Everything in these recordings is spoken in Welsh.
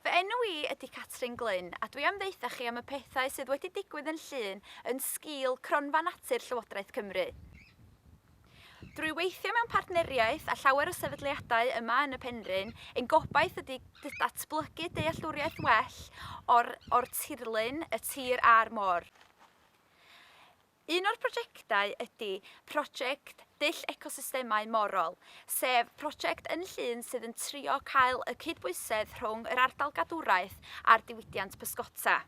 Fy enw i ydi Catrin Glyn a dwi am ddeutha chi am y pethau sydd wedi digwydd yn Llŷn yn sgîl Cronfa Natur Llywodraeth Cymru. Drwy weithio mewn partneriaeth â llawer o sefydliadau yma yn y Penrhyn, ein gobaith ydi datblygu dealltwriaeth well o'r o'r tirlun, y tir a'r môr. Un o'r prosiectau ydy prosiect Dull Ecosystemau Morol, sef prosiect yn Llŷn sydd yn trio cael y cydbwysedd rhwng yr ardal gadwraeth a'r diwydiant pysgota.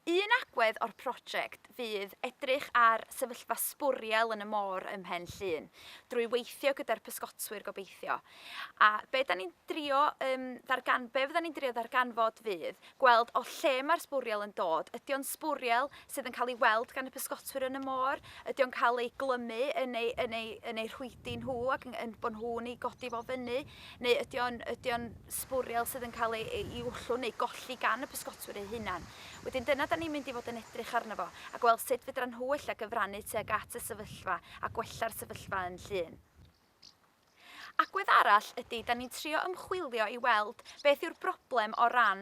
Un agwedd o'r prosiect fydd edrych ar sefyllfa sbwriel yn y môr ym Mhen Llŷn, drwy weithio gyda'r pysgotwyr gobeithio. A be da ni'n drio yym ddargan- be fydda ni'n drio ddarganfod fydd gweld o lle mae'r sbwriel yn dod, ydy o'n sbwriel sydd yn cael ei weld gan y pysgotwyr yn y môr, ydy o'n cael ei glymu yn eu, yn eu, yn eu rhwydi nhw ac yn, yn bod nhw'n ei godi fo fyny, neu ydy o'n, ydy o'n sbwriel sydd yn cael ei, ei wllw neu golli gan y pysgotwyr eu hunan. Wedyn dyna da ni'n mynd i fod yn edrych arno fo a gweld sut fedra nhw ella gyfrannu tuag at y sefyllfa a gwella'r sefyllfa yn Llŷn. Agwedd arall ydy, 'da ni'n trio ymchwilio i weld beth yw'r broblem o ran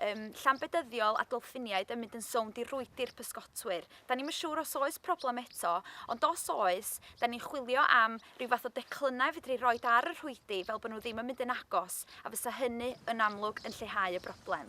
um, llambedyddiol a dolffiniaid yn mynd yn sownd i rwydi'r pysgotwyr. Da ni'n siŵr os oes problem eto, ond os oes, da ni'n chwilio am rhyw fath o declynnau fedru roi ar y rhwydi fel bod nhw ddim yn mynd yn agos, a fysa hynny yn amlwg yn lleihau y broblem.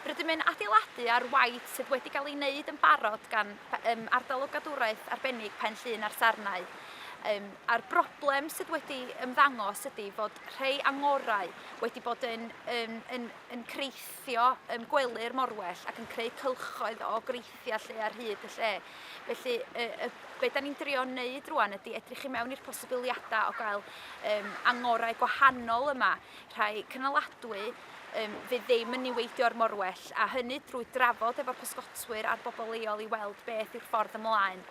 Rydym yn adeiladu ar waith sydd wedi cael ei wneud yn barod gan um, ardal o gadwraeth arbennig Pen Llŷn a'r Sarnau. Um, a'r broblem sydd wedi ymddangos ydy fod rhai angorau wedi bod yn, um, yn, yn creithio um, gwely'r morwell ac yn creu cylchoedd o greithiau lle ar hyd y lle. Felly, y, y, be da ni'n drio wneud rwan ydy edrych i mewn i'r posibiliadau o gael um, angorau gwahanol yma, rhai cynaladwy, um, fydd ddim yn niweidio'r morwell, a hynny drwy drafod efo'r pysgotwyr a'r bobl leol i weld beth yw'r ffordd ymlaen.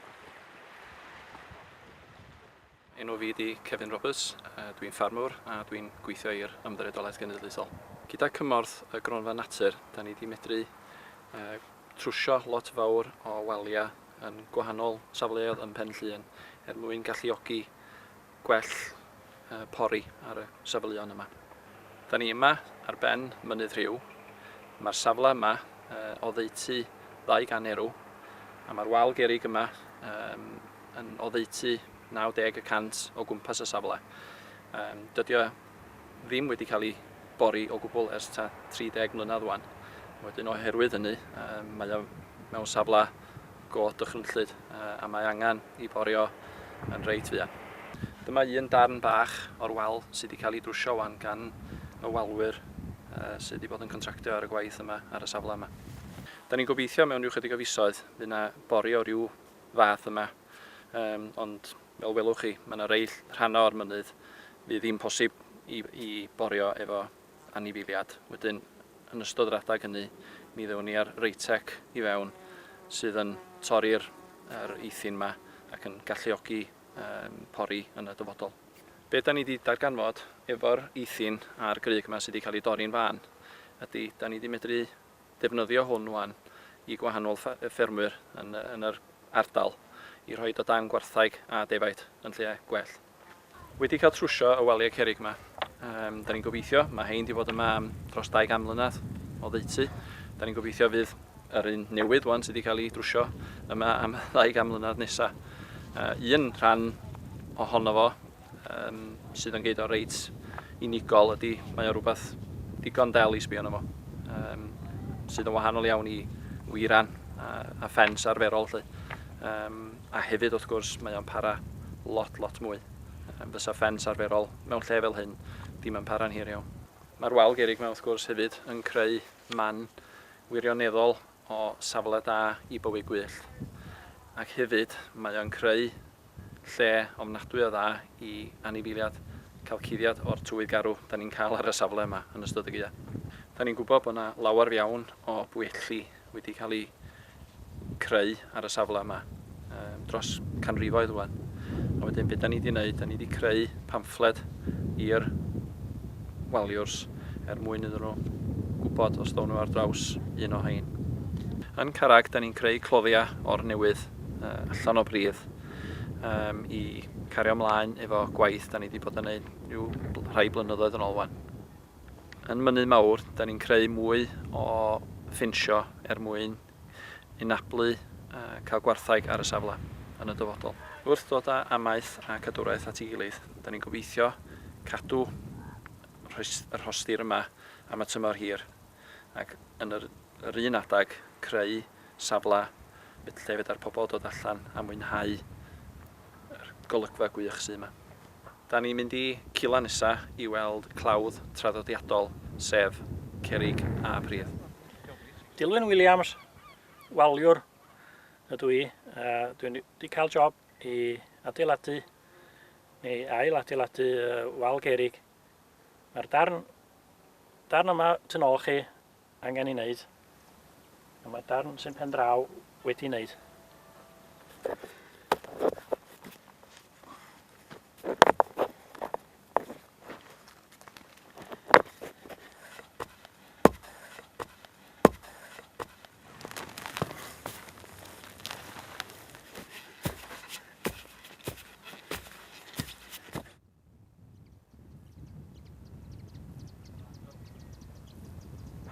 Enw fi ydi Kevin Roberts, dwi'n ffarmwr a dwi'n gweithio i'r Ymddiriedolaeth Genedlaethol. Gyda cymorth y Gronfa Natur, da ni wedi medru uh, trwsio lot fawr o waliau yn gwahanol safleoedd ym Mhen Llŷn er mwyn galluogi gwell pori ar y safleon yma. Da ni yma ar ben Mynydd Rhiw, mae'r safle yma oddeutu 200 erw a mae'r wal gerrig yma yn oddeutu 90 y cant o gwmpas y safle. Dydy o ddim wedi cael ei bori o gwbl ers ta 30 mlynedd wan. Wedyn oherwydd hynny mae o mewn safle go dychrynllyd a mae angen i borio yn reit fuan. Dyma un darn bach o'r wal sydd wedi cael ei drwsio wan gan y walwyr sydd wedi bod yn contractio ar y gwaith yma ar y safle yma. Da ni'n gobeithio mewn rhyw chydig o fisoedd fydd na bori o ryw fath yma yym ond fel welwch chi mae na rei rhannau o'r mynydd fydd ddim posib i i borio efo anifeiliad. Wedyn, yn ystod yr adeg hynny, mi ddewon ni ar Reitec i fewn sydd yn torri'r yr eithin 'ma ac yn galluogi yym pori yn y dyfodol. Be' 'dan ni 'di darganfod efo'r eithin a'r grug 'ma sy' 'di ca'l 'u dorri'n fân ydi 'dan ni 'di medru defnyddio hwn ŵan i gwahanol ffa- yy ffermwyr yn yy yn yr ardal i rhoid o dan gwartheg a defaid yn lle gwell. Wedi cael trwsio y waliau cerrig 'ma. Yym, 'dan ni'n gobeithio, ma' rhein 'di fod yma am dros dau gan mlynadd, oddeutu. 'Dan ni'n gobeithio fydd yr un newydd ŵan sy' 'di cael ei drwsio yma am y ddau gan mlynadd nesa'. Yy, un rhan ohono fo yym sydd yn gneud o reit unigol ydi mae o rwbath digon del i sbio arno fo. Yym, sydd yn wahanol iawn i wiran a a ffens arferol 'lly. Yym. A hefyd, wrth gwrs, mae o'n para lot, lot mwy. Fysa ffens arferol mewn lle fel hyn ddim yn para'n hir iawn. Mae'r wal gerrig 'ma, wrth gwrs, hefyd yn creu man wirioneddol o safle da i bywyd gwyllt. Ac hefyd, mae o'n creu lle ofnadwy o dda i anifeiliad cael cuddiad o'r tywydd garw 'da ni'n cael ar y safle yma yn ystod y gaeaf. 'Da ni'n gwybod bod 'na lawer iawn o bwyelli wedi cael eu creu ar y safle yma um, dros canrifoedd rwan. A wedyn beth da ni wedi gwneud, da ni wedi creu pamffled i'r waliwrs er mwyn iddyn nhw gwybod os ddown nhw ar draws un o hein. Yn Carag, da ni'n creu cloddiau o'r newydd uh, allan o bridd um, i cario ymlaen efo gwaith da ni wedi bod yn gwneud rhyw rhai blynyddoedd yn ôl wan. Yn Mynydd Mawr, da ni'n creu mwy o ffensio er mwyn anablu cael gwartheg ar y safle yn y dyfodol. Wrth ddod â amaeth a cadwraeth at ei gilydd, da ni'n gobeithio cadw y rhostir yma am y tymor hir ac yn yr un adeg creu safle lle fedar pobl ddod allan a mwynhau yr golygfa gwych sydd yma. Da ni'n mynd i Cila nesa i weld clawdd traddodiadol sef cerrig a pridd. Dilwyn Williams, waliwr ydw i a dwi'n 'di cael job i adeiladu neu ail adeiladu wal gerrig. Mae'r darn darn yma tu nôl chi angen ei wneud, a mae darn sy'n pen draw wedi wneud.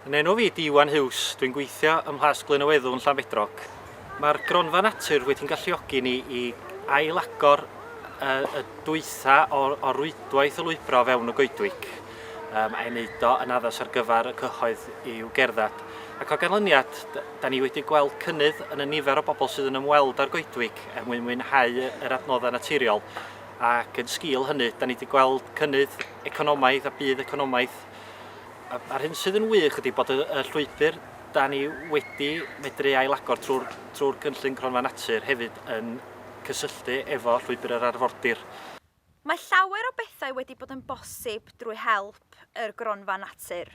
Yn enw fi ydi Iwan Huws, dwi'n gweithio ym Mhlas Glynneweddwn, Llanbedrog. Mae'r gronfa natur wedi'n galluogi ni i ailagor y, y dwytha o, o rwydwaith o lwybra o fewn y goedwig um, a'i wneud o yn addas ar gyfer y cyhoedd i'w gerdded. Ac o ganlyniad, da ni wedi gweld cynnydd yn y nifer o bobl sydd yn ymweld â'r goedwig er mwyn mwynhau yr adnoddau naturiol Ac yn sgîl hynny, da ni wedi gweld cynnydd economaidd a budd economaidd. A, a'r hyn sydd yn wych ydy bod y, y llwybr da ni wedi medru ailagor trwy'r trwy gynllun Cronfa Natur hefyd yn cysylltu efo llwybr yr arfordir. Mae llawer o bethau wedi bod yn bosib drwy help yr Gronfa Natur.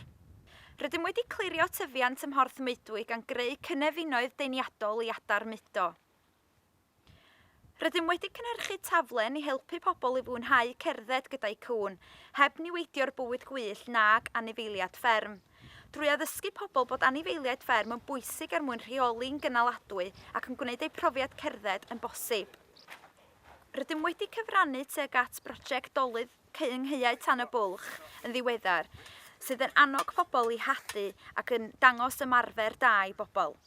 Rydym wedi clirio tyfiant ym Mhorth Meudwy gan greu cynefinoedd deniadol i adar mudo. Rydym wedi cynhyrchu taflen i helpu pobl i fwynhau cerdded gyda'u cŵn, heb niweidio'r bywyd gwyllt nag anifeiliad fferm. Drwy addysgu pobl bod anifeiliaid fferm yn bwysig er mwyn rheoli'n gynaladwy ac yn gwneud eu profiad cerdded yn bosib. Rydym wedi cyfrannu tuag at broject dolydd Cyyngheuau Tan y Bwlch yn ddiweddar, sydd yn annog pobl i hadu ac yn dangos ymarfer da i bobl.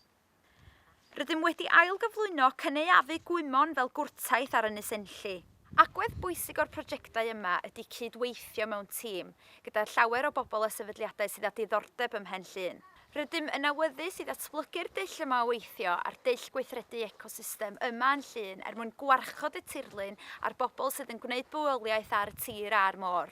Rydym wedi ailgyflwyno cynaeafu gwymon fel gwrtaith ar Ynys Enlli. Agwedd bwysig o'r projectau yma ydy cyd-weithio mewn tîm gyda llawer o bobl a sefydliadau sydd â diddordeb ym Mhen Llŷn. Rydym yn awyddus i ddatblygu'r dull yma o weithio a'r dull gweithredu ecosystem yma yn Llŷn er mwyn gwarchod y tirlun a'r bobl sydd yn gwneud bywoliaeth ar y tir a'r môr.